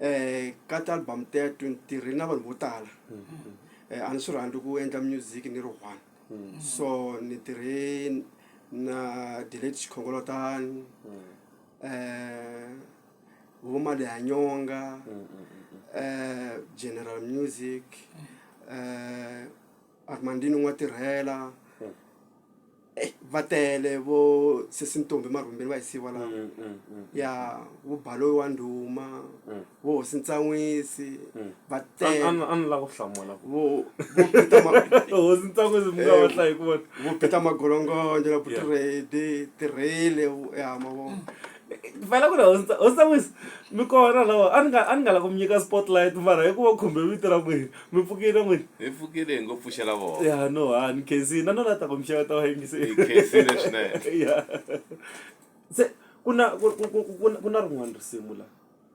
um ka ti-album teto ni tirhile na vanhu vo tala um a ni swi rhandzi ku endla music ni ri one so ni tirhe na delate xikhongolotani um vo mali ya nyonga um general music um armandini n'wa tirhela Eh, va tele vo sesi ntombi marhumbeni va hisiwa laha Mm, mm, mm. ya vo baloyi wa ndhuma vo hosi ntsan'wisi va An- tele an- a ni lava ku hlamula ku vo vo Peter Ma- hosi ntsan'wisi mi nga va hlayi ku vona vo Peter magolongonjo na Yeah. putiredi tirhele ya mavona vela ku ri hosta hosta wisa mi kona lawa a ni nga a ni nga la ku mi nyika spotlight mara hi ku va khumbe vito ra n'wina mi pfukile n'wina hi pfukile hi ngo pfuxela vona ya no ha ni khensini na nona ta ku mixevo ta va yingisekhensile swinene ya se ku na ku na rin'wana risimu la